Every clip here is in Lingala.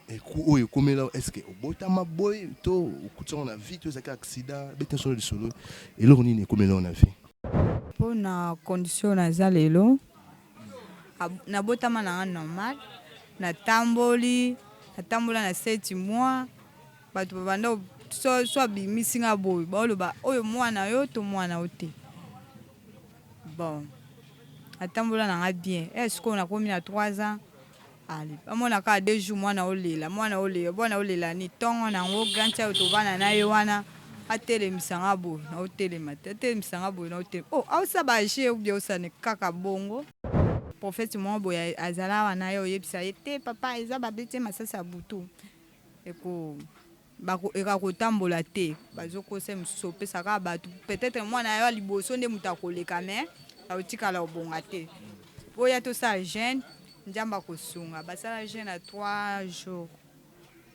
Mais coup oyo ekomela yo, est-ce que obotama boye to okutisi yango na vie to ezalaki accident? Beta solo lisolo eloko nini ekomela yo na vie? Po na condition oyo naza lelo, nabotama nanga normal, natamboli, natambola na sept mois, batu babanda ko, soit soit abimisi nga boye baoloba oyo mwana na yo to mwana na yo te? Bon, natambola nanga bien, eh sikoyo nakomi na trois ans, Allez ba mona kaka deux jours mwana olela mwana olela mwana olela nini tongo na yango grand chai to vanda na ye wana atelemisa nga boye na otelema te atelemisa nga boye na otelema oh aosa ba jeux ou bien osa ne kaka bongo. Prophète moko boye azala awa nayo oyebisa ye te papa eza ba beti ye masasi ya butu eko Bako eka kotambola te bazo kosa ye mususu opesa kaka batu peut etre mwana nayo ya liboso nde mutu akoleka mais akotikala obonga te oya tosala jeune nzambe akosunga basala jeune ya trois jours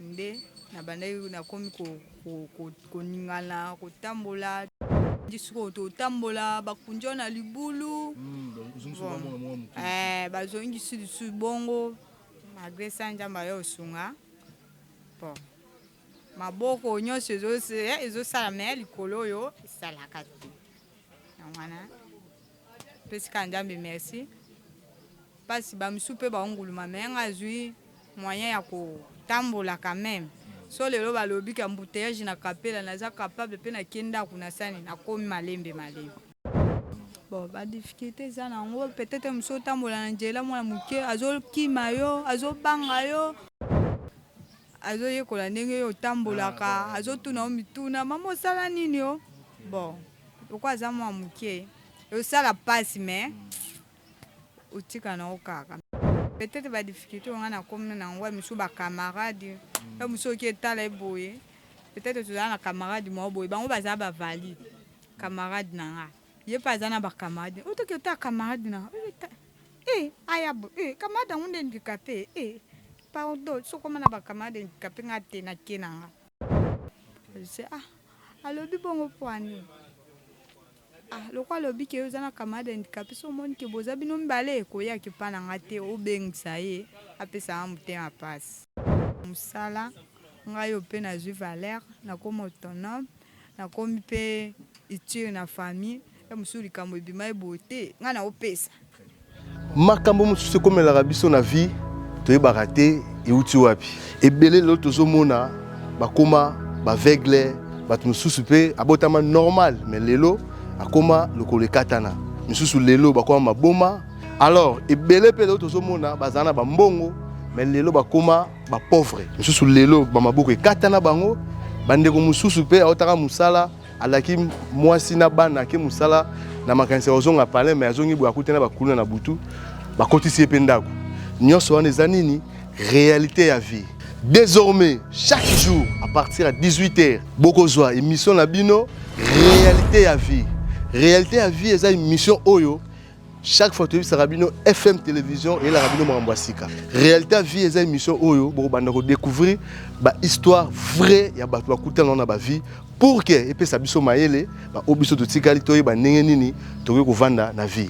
nde na bandaki na komi ko ko koningana kotambola ndi sikoyo totambola bakundi oyo na libulu hmm, eh, bazongisi lisusu bongo malgre sa nzambe ayo osunga Bon. Maboko nyonso ezo ezo sala mais likolo oyo esalaka te. Yango wana pesi ka Nzambe merci. Pasi ba misu pe ba onguluma mais nga azui moyen ya ko tambola quand même. So lelo balobi que embouteillage na Kapela naza capable pe na ke ndaku na sani nakomi malembe malembe. Bon, ba difficulté eza na yango peut-être mosu otambola na njela mwana moke azokima yo azobanga yo azoyekola ndenge yo otambolaka ah, azotuna yo mituna mama osala nini yo bon lokola aza mwana moke osala mpasi mais otika na yo kaka peut-être ba difficulté onga na komi na yango mosu ba camarade yo mosu oki etala ye boye peut-être tozala na camarade moko boye bango baza ba valide Camarade na nga. Ye pe aza na ba camarade. Oyo toki ota camarade na nga. Eh aya bo eh camarade yango nde handicapee eh pardon soki okoma na ba camarade handicapee nga te na ke na nga. Je sais ah alobi bongo pona nini ah lokola alobi ke yo oza na camarade handicapee soki omoni ke boza bino mibale koya ke pa na nga te obengisa ye apesa nga motema pasi. Musala nga yo pe nazui valeur nakoma autonome Nakomi pe iture na famille heure mosusu likambo ebima ye boye te ngai naopesa. Makambo mosusu ekomelaka biso na vie toyebaka te euti wapi. Ebele lelo tozomona bakoma baveugle, bato mosusu pe abotama normal mais lelo akoma lokolo ekatana, misusu lelo bakoma maboma. Alors ebele pe lelo tozomona bazala na bambongo mais lelo bakoma ba pauvre mususu lelo ba maboko ekata na bango bandeko mususu pe aotaka musala alaki mwasi na bana ke musala na makanisi ya kozonga palin me azongi boye akuti na bakuluna na butu bakotisi ye mpe ndako nyonso wana eza nini réalité ya vie désormais chaque jour à partir ya 18 heures bokozwa émission na bino réalité ya vie réalité ya vie eza émission oyo chaque fois toyebisaka bino fm télévision eyelaka bino makambo ya sika réalité ya vie eza émission oyo bokobanda kodécouvrir bahistoire vrai ya bato bakutana na bavie pour ke epesa biso mayele baoyo biso totikali toyeba ndenge nini tokoki kovanda na vie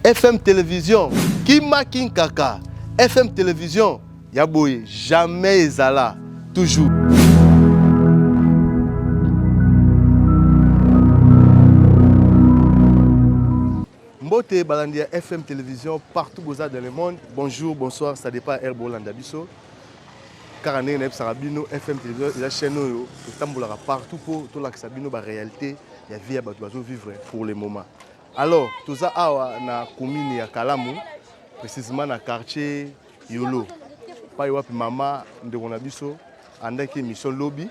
fm télévision kima kinkaka fm télévision Ya boye jamais ezala toujours. Mbote balandi ya FM télévision partout boza dans le monde. Bonjour, bonsoir, ça dépend heure bolanda biso. Kaka ndenge nayebisaka bino FM télévision eza chaîne oyo totambolaka partout mpo tolakisa bino ba réalité ya vie ya bato bazo vivre pour le moment. Alors toza awa na commune ya Kalamu précisément na quartier Yolo, pai wapi mama ndeko na biso andaki emission lobi,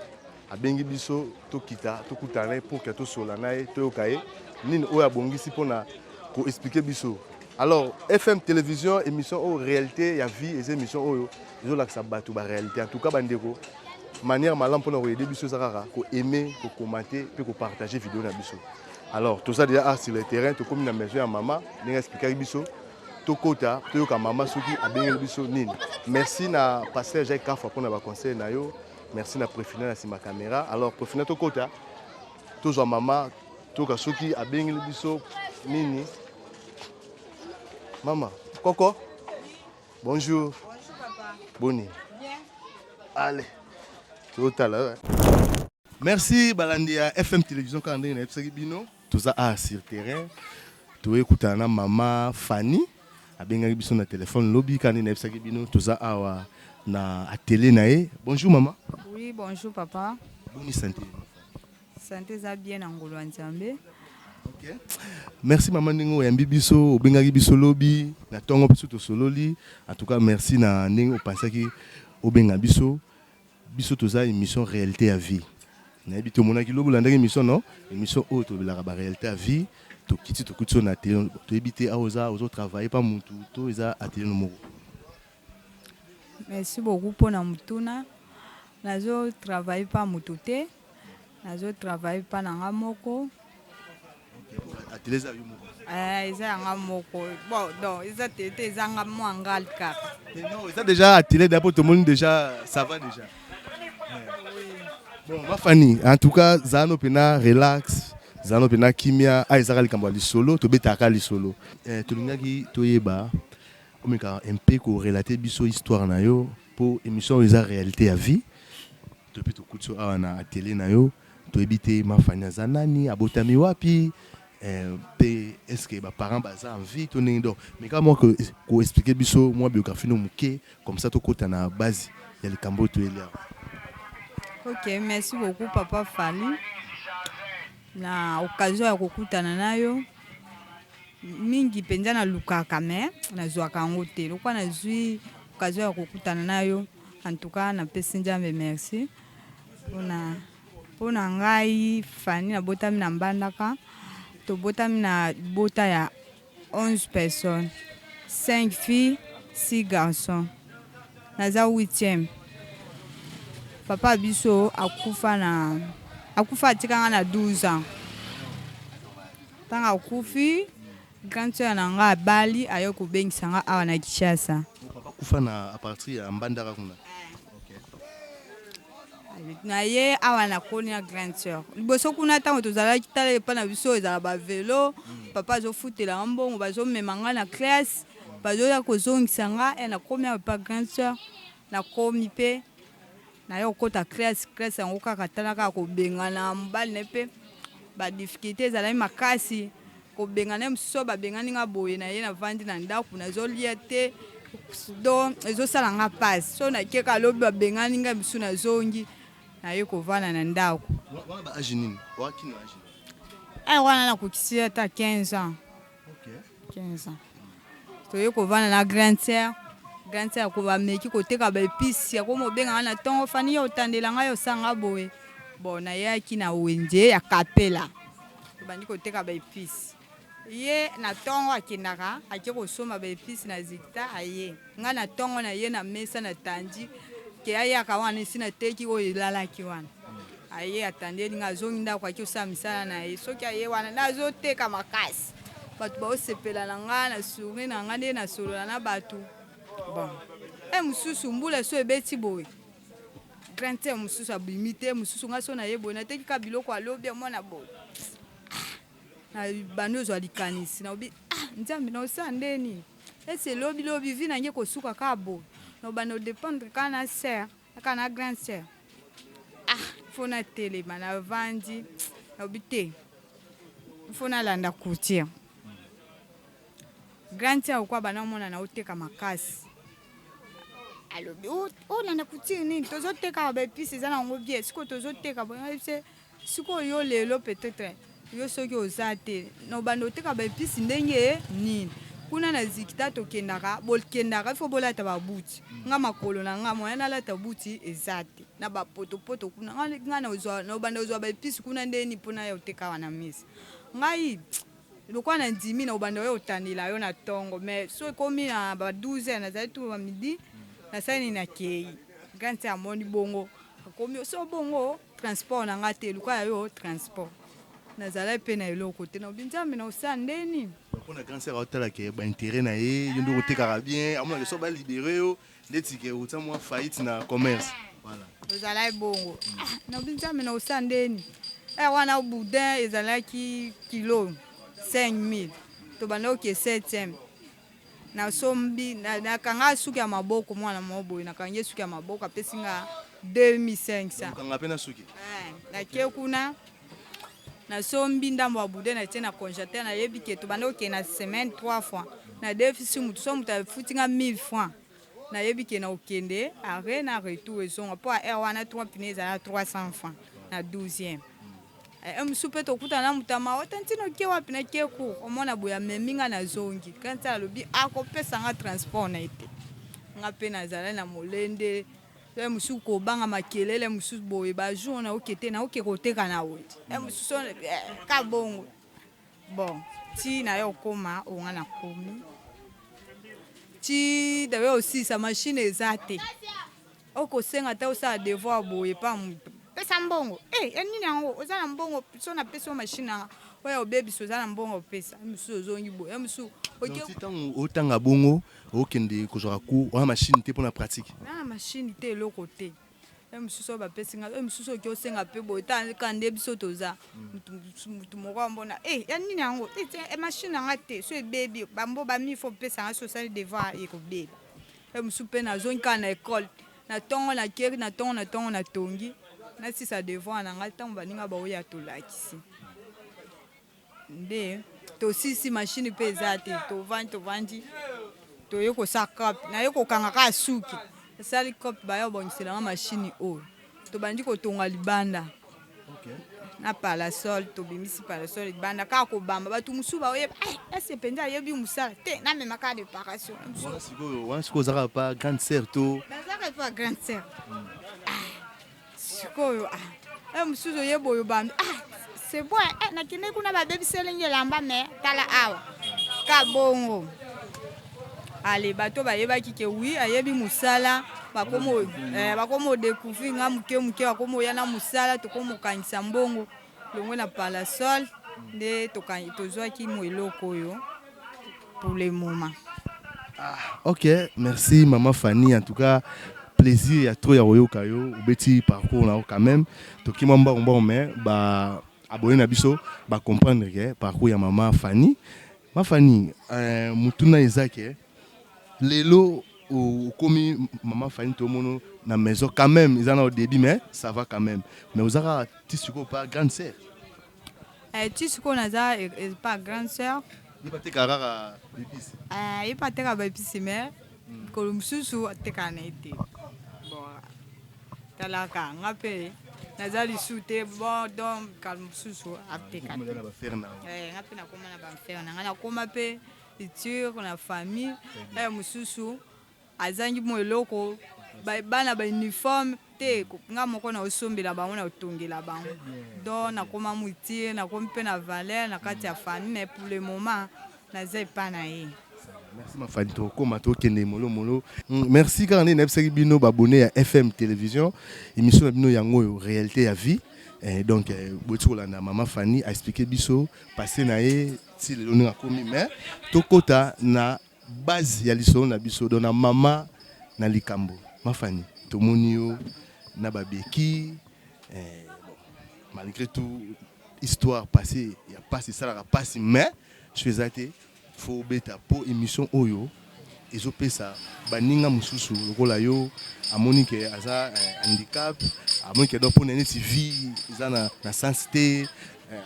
abengi biso tokita tokutana ye pour que tosola na ye toyoka ye nini oyo abongisi mpona koexplike biso alors fm télévision émission oyo réalité ya vie eza émission oyo ezolakisa bato baréalité en tout cas bandeko manière malamu mpona koyede biso eza kaka koaime kokomante mpe kopartage video na biso alors toza deja ar sur le terrain tokomi na maison ya mama ndenge explikaki biso tokota toyoka mama soki abengeli biso nini merci na pasteur jacques kafa mpona baconseil na yo merci na prefina na nsima caméra alors prefina tokota tozwa mama toyoka soki abengeli biso nini mama koko bonjour boni ale totala merci balandi ya fm télévision kaka ndenge nayebisaki bino Toza awa sur terrain toye kutana na mama Fanny abengaki biso na telephone lobi kaka nde nayebisaki bino toza awa na atelier na ye. Bonjour mama. Oui bonjour papa. Boni sante? Sante eza bien na ngolu ya Nzambe. Okay. Merci mama ndenge oyambi biso obengaki biso lobi na ntongo biso tosololi en tout cas merci na ndenge opansaki obenga biso. Biso toza emission realite ya vie nayebi te omonaki lobi olandaki emission no emission oyo tolobelaka ba realite ya vie tokiti tokuti yo na atelier toyebi te awa oza ozo travailler pa mutu to eza atelier no moko. Merci beaucoup pona motuna nazo travailler pa mutu te. Nazo travailler pa na nga moko. Atelier eza yo moko? Eh, eza ya nga moko. Bon, donc eza te te eza nga mwa ngal kaka. Mais non, eza déjà atelier da po tomoni déjà ça va déjà. Bon, ma Fanny, en tout cas, zano pena relax, zano pena kimia, ah ezaka likambo ya lisolo, tobetaka lisolo. Eh, tolingaki toyeba omeka mpe ko relater biso histoire na yo po émission oyo eza réalité ya vie. Toyebi tokuti yo awa na atelier na yo toyebi te ma Fanny aza nani abotami wapi eh, pe est ce que ba parents baza en vie to ndenge donc mais kaka mwa ko expliquer biso mwa biographie no moke comme ça tokota na base ya likambo oyo toyeli awa. Ok, merci beaucoup papa Fally na occasion ya kokutana na yo mingi mpenza nalukaka me nazwaka yango te lokola nazwi occasion ya kokutana na yo En tout cas na pesi Nzambe merci pona pona ngai Fanny na botami na Mbandaka to botami na bota ya 11 personnes 5 filles 6 garçons naza 8e papa biso akufa na akufa atika nga na 12 ans tanga akufi Grande soeur na nga abali aye kobengisa nga awa na Kinshasa. Oh papa akufa na a partir ya mbandaka kuna. Na ye awa na koni na grande soeur liboso kuna ntango tozalaki tala epa na biso ezala ba velo papa azofutela nga mbongo bazomema nga na classe bazoya kozongisa nga e nakomi awa epa grande soeur nakomi mpe naye kokota classe classe yango kaka tala kaka kobengana mobali na ye mpe ba difficulte ezalaki makasi kobengana ye mosusu oyo babengani nga boye na ye navandi na ndako nazolia te don ezosala nga mpasi so nakeka lobi babengani ngai mosusu nazongi naye kovanda na ndako eh, wana nakokisi ata 15 ans 15 ans toye kovanda na grande sœur grande sœur ko bameki koteka baepisi yakomi obenganga na ntongo fani yo otandela ngai osanga boye bon nayaki na wenze ya kapela Tobandi koteka ba epices. Ye na tongo akendaka ake kosomba ba epices na Zigta aye. Nga na tongo na ye na mesa na tandi ke ayaka wana esi na teki oyo elalaki wana. Aye atandi eli nga azongi ndako ake osala misala na ye. Soki aye wana nazo teka makasi. Bato bao sepela na nga na sourire na nga nde na solola na bato. Bon. Heure mosusu mbula esi ebeti boye. Grain ya mosusu abimi te mosusu ngai so naye boye nateki kaka biloko ya lobi amona boye na bando ozwa likanisi na obi ah, nzambe na osala nde nini ese lobi lobi vi nange kosuka kaka boye na obanda odependre kaka na ser kaka na grand ser ah fo natelema navandi na obi te fo nalanda courtier grand ser okwa bana omona na oteka makasi alobi o- olanda kutire nini tozotekaka baepise eza na yango bie sikoyo tozoteka boye ngai se sikoyo yo lelo peut-être yo soki oza te na obanda oteka baepise ndenge ye nini kuna na zikita tokendaka bokendaka ifo bolata babuti nga makolo na nga moya nalata buti eza te na bapotopoto kuna Nga- nga na ozwa- na obanda ozwa baepise kuna ndenge nini mpo naya oteka wana mesa ngai Lokola na ndimi na kobanda oya kotanela yo na tongo mais soki ekomi na ba 12 heures nazali tout ba midi nasali nini na keyi grand sœur amoni bongo akomi osi obongo transport na nga te luka ya yo transport nazalaki pe na eloko te nalobi nzambe na kosala nde nini. Pona grand sœur aotala ke ba interet na ye yo nde okotekaka bien amonaka soki ba libere yo Ndeti ke uta mwa faillite na commerce. Voilà. Ezalaki bongo. Ah, na binzambe na osa ndeni. Eh, wana boudin ezalaki kilo 5000. Tobanda oke 7e. Na sombi na, na kanga suki ya maboko mwana moko boye na kangi suki ya maboko apesi nga 2500. Kanga pe na suki. Eh, na ke kuna. na sombi ndambo ya bude na tie na congelateur na yebi ke tobanda kokende na semaine trois fois na defisi motu so motu afuti nga 1000 francs na yebi ke na kokende arret na retour ezonga mpo ya heure wana trois pine ezala 300 francs na 12e e mosusu mpe tokutana na motu ya mawa tantino oke wapi na ke cour omona boye amemi nga nazongi kanti alobi akopesa nga transport na ye te nga mpe nazala na molende Heure mosusu kobanga makelele mosusu boye ba jour na oke te na oke koteka na oye heure mosusu eh, ka bongo bon ti na yo okoma onga na komi ti dawe osilisa mashine eza te okosenga ata osala devoir boye pa pesa mbongo e eh, ya nini yango oza na mbongo so napesi yo mashine yanga oyo obebisa oza na mbongo opesa mosusu ozongi boye mosusu ntango otanga bongo okay. Okende kozwaka cours wana machine te mpona pratique? Na machine te eloko te oyo mosusu oyo bapesi ngai oyo mosusu oki osenga mpe boye taka nde biso toza motu moko ambona e ya nini yango machine na ngai te so ebebi bambo bami fo opesa ngai so osali devoir ekobeba oyo mosusu mpe nazongi kaka na ekole na ntongo na keri na ntongo na ntongo na tongi nasisa devoir na ngai ntango baninga baoya tolakisi nde tosisi mashini mpe eza te tovandi tovandi toye kosala crop naye kokanga kaka suki esali crop baya kobongisela nga mashini oyo tobandi kotonga libanda na palasol tobimisi palasol libanda kaka kobamba bato mosusu baoyeba ese eh, mpenza ayebi mosala te namema kaka deparation wana sikoyo ozalaka pa grande sœur to nazalaka pa grande sœur hmm. sikoyo ah, eh, mosusu oye boyo bambi ah, c'est bon eh, nakende kuna babebiseli nge elamba me tala awa kabongo ale bato bayebaki ke wi ayebi mosala bakomi odecouvrir nga moke moke bakomi oya na mosala tokomi okangisa mbongo longwe na palasol nde tozwaki mo eloko oyo pour le moment. Ah, ok, merci maman Fanny. En tout cas, plaisir ya trop ya koyoka yo obeti parcours na yo quand même toki mwa mbango mbango mais ba abonné na biso ba comprendre ke parcours ya mama Fanny ma Fanny euh, mutuna eza ke lelo okomi mama Fanny tomono na maison quand même eza na au début mais ça va quand même mais ozaka ti sikoyo pa grande sœur Eh, ti sikoyo naza epa grande sœur ye bateka kaka bepisi eh, ye mpe ateka baepisi mais mikolo mosusu atekaka na ye te bon talaka nga mpe naza lisu te bon don mikalo mosusu ateka te na bafere na yango Eh, nga mpe nakoma na bamfere na nga nakoma mpe iture na famille eh, mosusu Azangi mua eloko ba bana ba uniforme te nga moko nao sombela bango nao tongela bango donc nakoma mutire nakomi pe na valeur na kati ya famille mais pour le moment naza epa na ye. Merci ma Fanny tokoma tokende molo molo. Hum, merci kaka nde nayebisaki bino ba abonne ya FM television emission na bino yango oyo realite ya vie eh, donc eh, boti kolanda mama Fanny a expliquer biso passe na ye ti lelo ndenge akomi mais tokota na Base ya lisolo na biso donc na mama na likambo ma Fanny tomoni yo na ba beki eh, malgré tout histoire passé ya pasi esalaka pasi mais so eza te fo obeta po émission oyo ezopesa baninga mosusu lokola yo amoni ke aza eh, handicap amoni ke donc mpona neti vie eza na, na sens te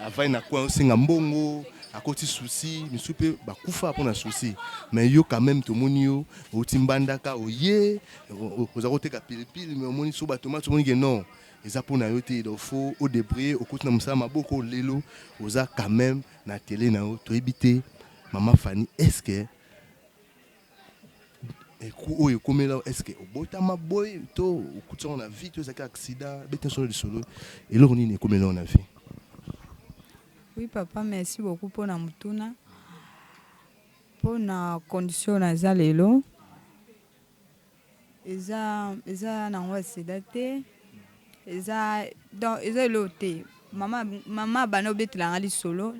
avandi na coin osenga mbongo akoti souci misusu mpe bakufa mpo na souci mais yo quand même tomoni yo outi mbandaka oye oza koteka pilipili mais omoni so batomate omoni ke non eza mpo na yo te donc fo odebriller okoti na mosala maboko lelo oza quand même na tele na yo toyebi te mama fani est ce que oyo ekomela est ce que obotama boye to okuti yango na vie to ezalaki accident beta solo lisolo eloko nini ekomela yango na vie oui papa merci beaucoup mpo na motuna mpo na condition naza lelo Eza eza nango ya sida te eza donc eza eloko te mama mama abanda kobetela nga lisolo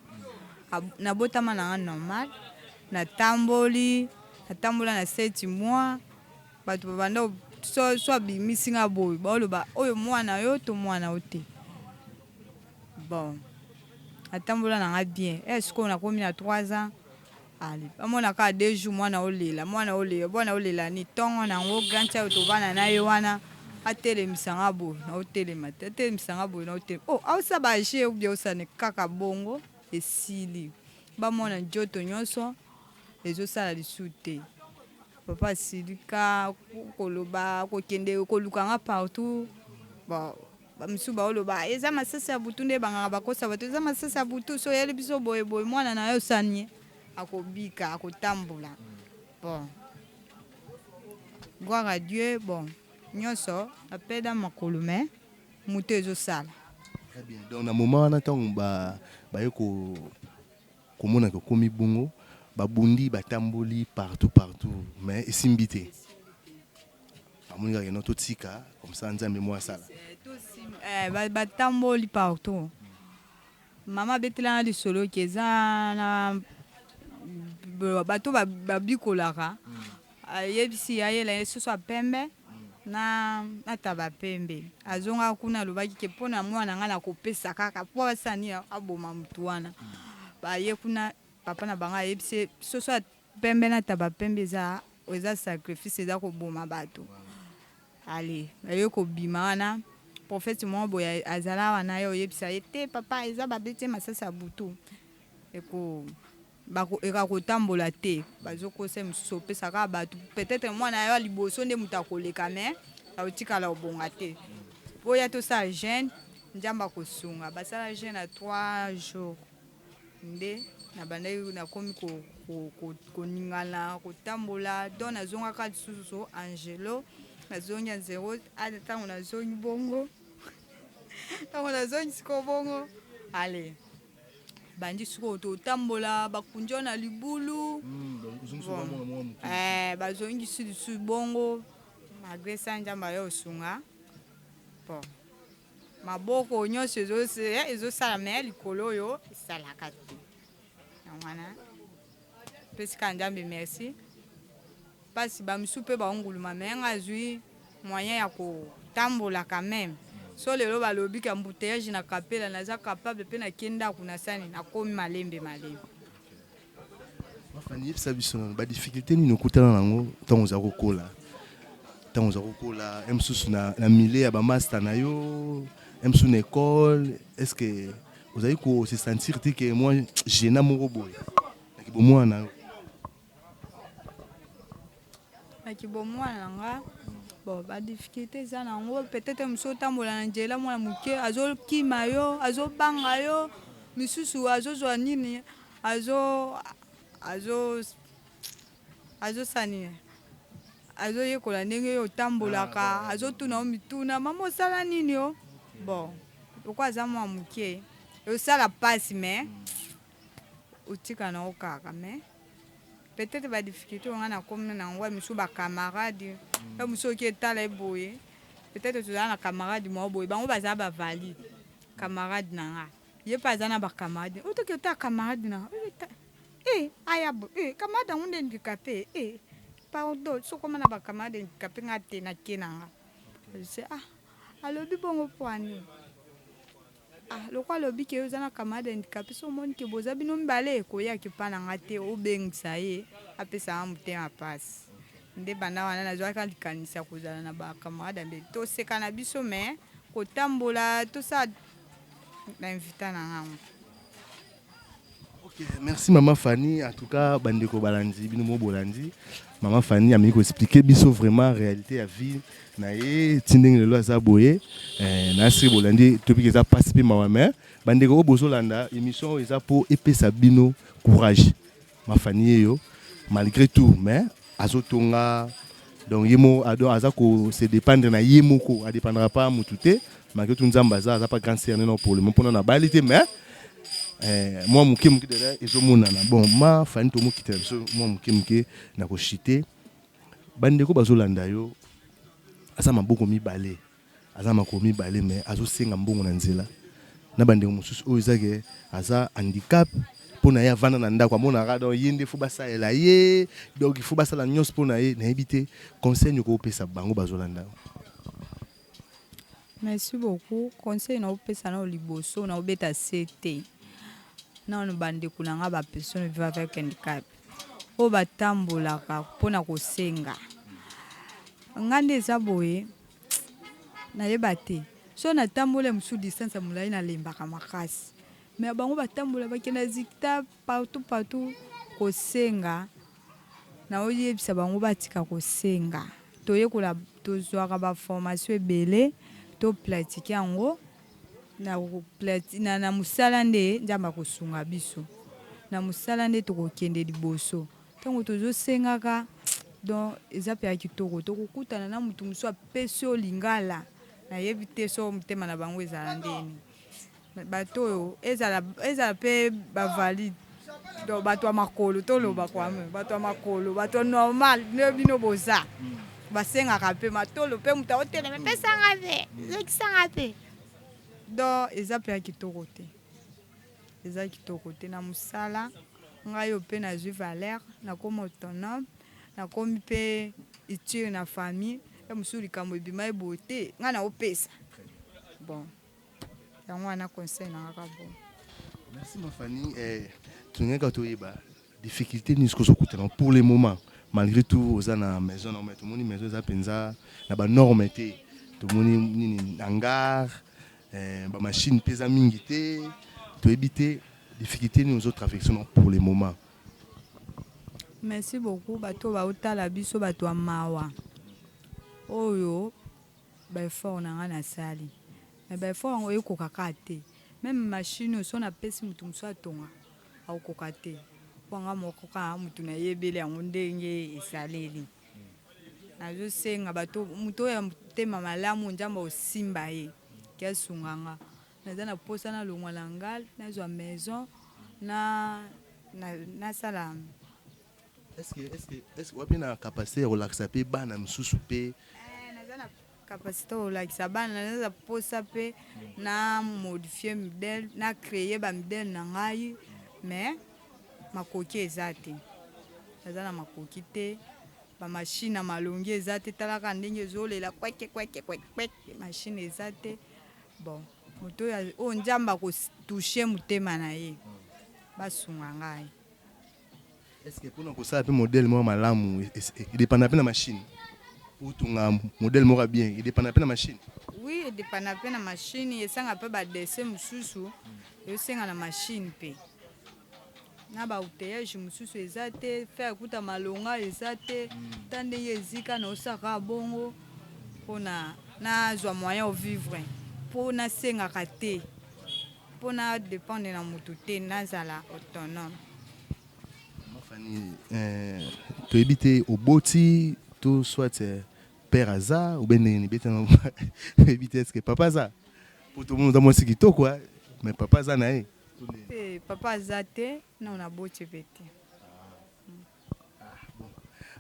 nabotama na nga normal natamboli natambola na seti mois bato babanda so so abimisi nga boye baoloba oyo mwana yo to mwana yo te bon natambola na nga bien e eh, sikoyo nakomi na 3 ans Allez ba mona kaka deux jours mwana o lela mwana o lela mwana o lela nini tongo na ngo grand cha oyo to vanda na ye wana a telemisa nga boye na o telema te a telemisa nga boye na o telema oh azo sala ba jeux ou bien o sala nini kaka bongo e sili ba mona njoto nionso ezo sala lisusu te papa a silika ko loba ko kende ko luka nga partout bon Ba misusu bao loba eza masasi ya butu nde banganga bakosa bato eza masasi ya butu so yali biso boye boye mwana na yo sanie akobika akotambola bon gloire à Dieu bon nyonso apeda makolo mais moto ezosala Très bien. Donc na moment wana ntango ba baye ko komona ke okomi bongo babundi batamboli partout partout mais esimbi te. Amoni kaka keno totika comme ça Nzambe mwa asala. Eh, ba- batamboli partout mama abetela na lisolo ke eza na b- bato ba- babikolaka ayebisi ayela ye soso ya pembe na na taba pembe azongaka kuna alobaki ke mpo na mwana ngai nakopesa kaka mpo asani aboma motu wana baye kuna papa na bango ayebisi ye soso ya Pembe na taba pembe eza eza sacrifice eza koboma batu ale baye kobima wana prophète moko boye azala awa na ye oyebisa ye te papa eza babeti ye masasi ya butu eko bako eka kotambola te bazokosa ye mosusu opesa kaka bato peut-être mwana ya yo ya liboso nde moto akoleka me akotikala obonga te oya tosala jeune njambe akosunga basala jeune ya 3 jours nde na bandaki na komi koningana kotambola donc nazongaka lisusu angelo nazongi angelo ale ntango nazongi bongo ntango nazongi sikoyo bongo ale bandi sikoyo totambola bakundi yo na libulu hmm, eh, bazongisi lisusu bongo malgre sa nzambe ayo osunga po Maboko nionso ezo ezo sala mais ya likolo oyo esalaka te. Yango wana pesi kaka Nzambe merci. Pasi ba misusu pe ba nguluma mais nga azui moyen ya ko tambola quand meme. So lelo balobi ki embouteillage na kapela naza capable pe na ke ndaku na sani nakomi malembe malembe. Fani, yebisa biso nanu ba difficultés nini okutana nango ntango oza kokola ntango oza kokola ye mosusu na, na milieu ya bamasta na yo ye mosusu na ekole est ce que ozali ko se sentir te ke mwa gena moko boye na kibomwana na yo na kibomwana na nga bon ba difficulté eza na yango peut-être mosusu otambola na njela mwana moke azokima yo azobanga yo misusu azozwa nini Azo azo azo sala nini? Azoyekola ndenge yo otambolaka, ah, azotuna yo mituna, mama osala nini yo? Bon, lokola aza mwa moke eosala mpasi me otika na yo kaka me peut-être badifficulté oyo ngai nakomi na yango ya mosusu bacamarade mm. ya mosusu oki etala ye boye peut-être tozala na camarade moko boye bango bazala bavalide camarade na ngai ye mpe aza na bacamarade oyo toki ota camarade na e aya bo e camarade yango nde handicapé e pardon sokoma na bacamarade handicapé nga te na ke na nga se ah alobi bongo mpo ani ah loko alobi ke oza na camarade handicapé so omoni ke boza bino mibale koya ke mpa na nga te obengisa ye apesa nga motema mpasi nde banda wana nazwaka likanisi ya kozala na bacamarade ya mbeli toseka na biso me kotambola tosala na invita na ngango Okay, merci maman Fanny. En tout cas, bandeko balandi, bino mo bolandi. Maman Fanny a mis expliquer biso vraiment réalité ya vie na ye tindenge lelo aza boye. Eh, na sri bolandi topic eza passe pe mawa mais bandeko o bozo landa émission eza po epesa bino courage. Ma Fanny yeyo malgre tout mais azo tonga donc ye moko ado aza ko se dépendre na ye moko a dépendra pas mutu te malgre tout nzambe aza aza pas grand sœur neno pole mo pona na bali te mais eh, mwa moke moke deja ezomonana bon ma fani tomokitela biso mwa moke moke na koshite bandeko bazolanda yo aza maboko mibale Aza na makolo mibale mais azo senga mbongo na nzela na ba ndeko mosusu oyo eza ke aza handicap pona ye avanda na ndako amonaka donc ye nde faut basalela ye donc il faut basala nyonso pona ye nayebi te conseil nini okopesa bango bazolanda yo. Merci beaucoup conseil na opesa na liboso na obeta se te nano ba ndeko na nga ba personne vivant avec handicap oyo batambolaka pona kosenga nga nde eza boye Na yeba te soki na tambola mususu distance ya mulayi na lembaka makasi mais bango ba tambola ba kenda zikita partout partout ko senga na zo yebisa bango ba tika ko senga to yekola to zwaka ba formation ebele to platique yango na ko platique na na musala nde nzambe ako sunga biso na musala nde toko kende liboso Tango tozo sengaka donc eza pe ya kitoko toko kutana na mutu mususu apesi yo lingala na yebi te soki motema na bango ezala ndeni bato oyo ezala ezala pe ba valide donc bato ya makolo toloba mm, kwa mm. bato ya makolo bato normal nde bino boza mm. basengaka mpe matolo mpe moto aotelema epesanga mpe zokisanga mpe donc eza mpe ya kitoko te Eza kitoko te na musala nga yo pe na zui valeur na komi autonome na komi pe utile na famille ya mosusu likambo ebima ye boye te nga na opesa bon yango wana conseil na nga ka boye. Merci ma Fanny eh, tolingaki kaka toyeba Difficulte nini soki ozo kutana pour le moment malgre tout oza na maison na yo mais tomoni maison eza penza na ba norme te tomoni nini hangar eh, ba machine pe eza mingi te toyebi te difficulte nini ozo traverse na pour le moment. Merci beaucoup bato baotala biso bato ya mawa oyo ba effort na ngai nasali mais ba effort yango ekoka kaka te meme machine oyo so napesi moto mosusu atonga akokoka te mpo nga moko kaka moto nayebeli yango ndenge esaleli. Nazosenga bato moto oyo ya motema malamu Nzambe akosimba ye ke asunga nga. Naza na posa na longwa na ngal nazwa maison na nasala Est ce que est ce que est ce que oza pe na capacite ya kolakisa pe bana misusu pe? Eeh naza na capacite ya kolakisa bana na naza posa mpe na modifie modele na creye bamidele na ngai mais makoki eza te naza na makoki te bamashine na malongi eza te talaka ndenge ezolela kweke kweke kweke mashine eza te bon moto oyo nzambe akotushe motema na ye basunga ngai Est ce que pona kosala pe modèle moko malamu e dependaka pe na machine? Otonga modèle moko ya bien e dependaka pe na machine? Oui e dependaka pe na machine, esengaka pe ba dessin mususu ezosenga na machine pe. Na ba outillage mususu eza te, fer kutu ya malonga eza te, ata ndenge ezika na osala kaka bongo pona nazwa moyen o vivre po nasengaka te. Mpo na dependre na mutu te, nazala autonome. Maman Fanny, eh, toyebi te oboti to soit eh, père aza ou bien ndenge nini beta na toyebi te eske papa aza mpo tomoni oza mwasi kitoko eh, mais papa aza na ye to ndenge Te, papa aza te, non naboti mpe te.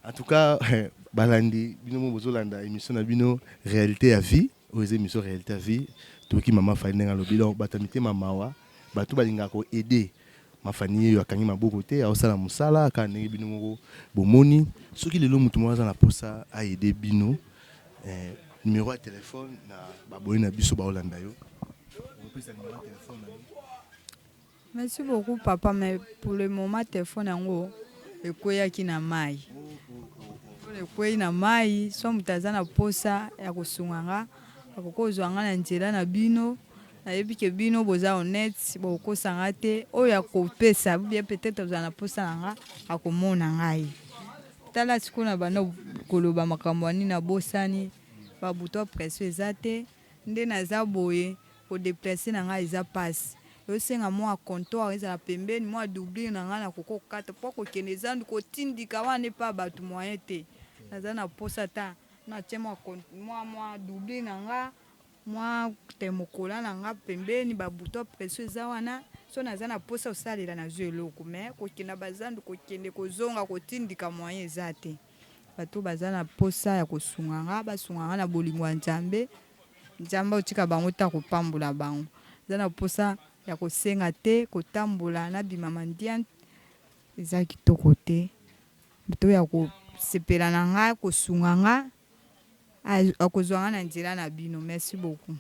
En tout cas, eh, balandi bino mo bozolanda emission na bino réalité ya vie. Oyo eza emission realite ya vie toyoki maman Fanny ndenge alobi donc batu ya mitema mawa batu balingaka ko aide ma Fanny yeyo akangi maboko te aosala musala kaka ndenge bino moko bomoni soki lelo mutu moko aza na posa a aide bino eh, numero ya telephone na ba abonne na biso baolanda yo okopesa numero ya telephone na yo. Merci beaucoup papa mais pour le moment telephone yango ekweyaki na mayi oyo ekweyi na mayi so moto aza na posa ya kosunga nga akoki kozwa nga na nzela na bino nayebi ke bino boza honnête bokokosa nga te oyo akopesa bien peut-être ozala na posa na nga akomona ngai tala sikoyo na banda koloba makambo ya nini nabosani babuto ya presso eza te Nde naza boye, ko deplacer na nga eza pasi. Ezo senga mua comptoir ezala pembeni, mua doublure na nga nakoki kokata po ko kende Zandu kotindika wana epa batu moyen te. Naza na posa ata na tie mua mua mua doublure na nga, mua thermocollant na nga pembeni, ba boutons à pression eza wana. Soki naza na posa kosalela nazua eloko mais kokenda ba zandu kokende kozonga kotindika moyen eza te. Bato baza na posa ya kosunga nga basunga nga na bolingo ya Nzambe Nzambe akotika bango te akopambola bango eza na posa ya kosenga te kotambola na bima mandiant eza kitoko te bato ya kosepela na nga kosunga nga Akozua nga na nzela na bino merci beaucoup.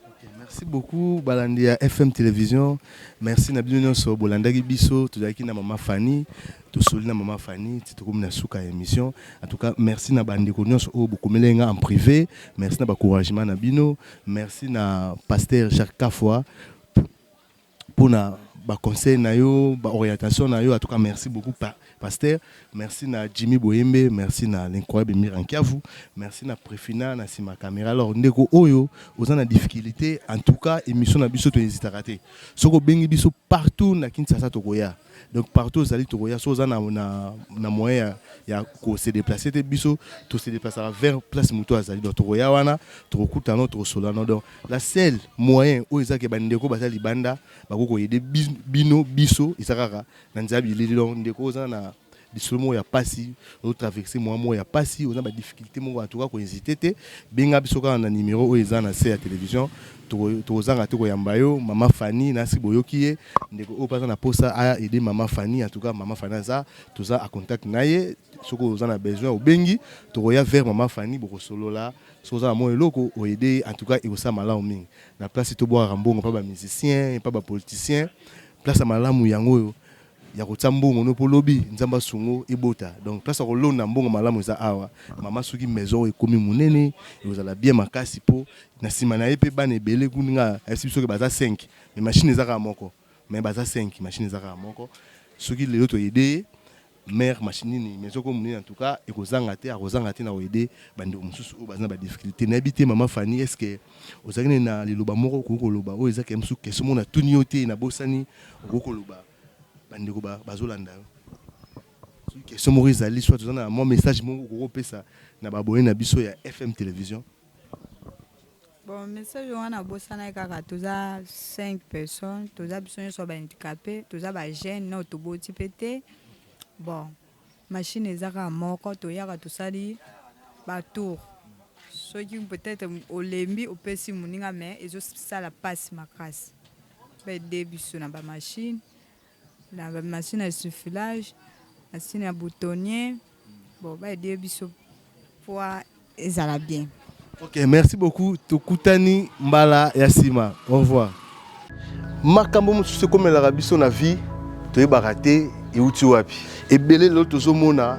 Ok merci beaucoup balandi ya FM television merci na bino nionso bolandaki biso tozalaki na maman Fanny tosoli na maman Fanny ti tokomi na suka ya emission en tout cas merci na ba ndeko nionso oyo bokomelaki nga en prive merci na ba couragement na bino merci na pasteur Jacques Kafua. pona ba conseil na yo ba orientation na yo en tout cas merci beaucoup pasteur merci na Jimmy boyembe merci na l'incroyable mira nkiavu merci na prefina na sima camera alors ndeko oyo oza na difficulté en tout cas émission na biso to hesitaka te soki obengi biso partout na Kinshasa tokoya donc partout ozali tokoya so oza na, na, na moyen ya, ya ko se déplacer te biso to se déplacera vers place moto azali donc tokoya wana tokokutana tokosolana donc La seule moyen oyo eza ke bandeko baza libanda bakoki koyede bino biso eza kaka na nzela bilili. Donc ndeko oza na lisolo moko ya pasi otraverse mwa moko ya pasi oza na badifficulte moko en tout cas kohésite te benga biso kaka na numero oyo eza na se ya télévision tokozanga te koyamba yo mama fani nasi boyoki ye ndeko oyo mpe aza na mposa aide mama fani en tout cas mama fani aza toza a contact na ye soki oza na besoin obengi tokoya vers mama fani bokosolola Soki oza na mwa eloko o aider ye en tout cas ekosala malamu mingi na place ti tobwakaka mbongo epa ba musiciens, epa ba politiciens. Place ya malamu yango oyo ya kotia mbongo no po lobi Nzambe asunga yo ebota. Donc place ya kolona mbongo malamu eza awa. Mama soki maison oyo ekomi monene ekozala bien makasi po na sima na ye pe bana ebele kutu nga ayebisi biso ke baza cinq mais machine eza kaka moko mais baza cinq machine eza kaka moko soki lelo to aider ye Mère machine nini maison ko munene en tout cas ekozanga te akozanga te na ko aider ba ndeko mususu oyo baza na ba difficultes nayebi te maman Fanny est ce que ozalaki nde na liloba moko okoki koloba oyo eza kemsu question moko natuni yo te nabosani okoki koloba ba ndeko ba bazolanda yo soki question moko ezali soit oza na mwa message moko okoki kopesa na ba abonne na biso ya FM television. Bon message wana abosanaki kaka toza 5 personnes toza biso nyonso ba handicapé toza ba jeune nao toboti mpe te bon machine eza kaka moko toyaka tosali ba tour soki peut-être olembi opesi moninga mais ezosala mpasi makasi baede biso na bamashine na ba machine ya suffilage machine ya boutonnier bon ba aider biso poids ezala bien Ok, merci beaucoup. Tokutani mbala ya sima. Au revoir. makambo mosusu ekomelaka biso na vie toyebaka te euti wapi ebele lelo tozomona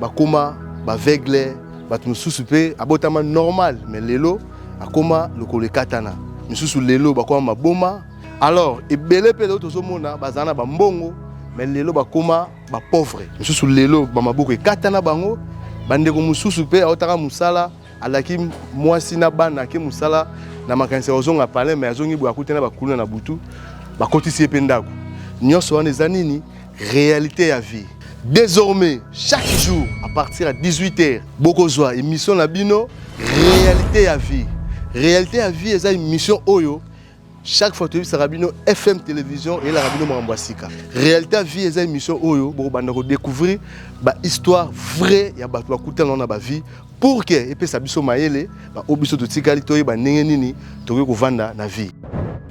bakoma baveugle bato mosusu mpe abotama normal me lelo akoma lokolo ekatana misusu lelo bakoma maboma alors ebele mpe lelo tozomona bazala na bambongo me lelo bakoma bapauvre mosusu lelo bamaboko ekata na bango bandeko mosusu mpe aotaka mosala alaki mwasi na bana ake mosala na makanisi ya kozonga palin me azongi boye akuti na bakuluna na butu bakotisi ye mpe ndako nyonso wana eza nini réalité ya vie désormais chaque jour à partir ya 18 heures bokozwa émission na bino réalité ya vie réalité ya vie eza émission oyo chaque fois toyebisaka bino fm télévision eyelaka bino makambo ya sika réalité ya vie eza émission oyo bokobanda kodécouvrir bahistoire vrai ya bato bakutana na bavie pour ke epesa biso mayele baoyo biso totikali toyeba ndenge nini tokoki kovanda na vie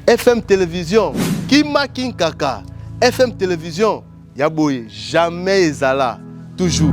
fm télévision kima kinkaka fm télévision ya boye jamais ezala toujours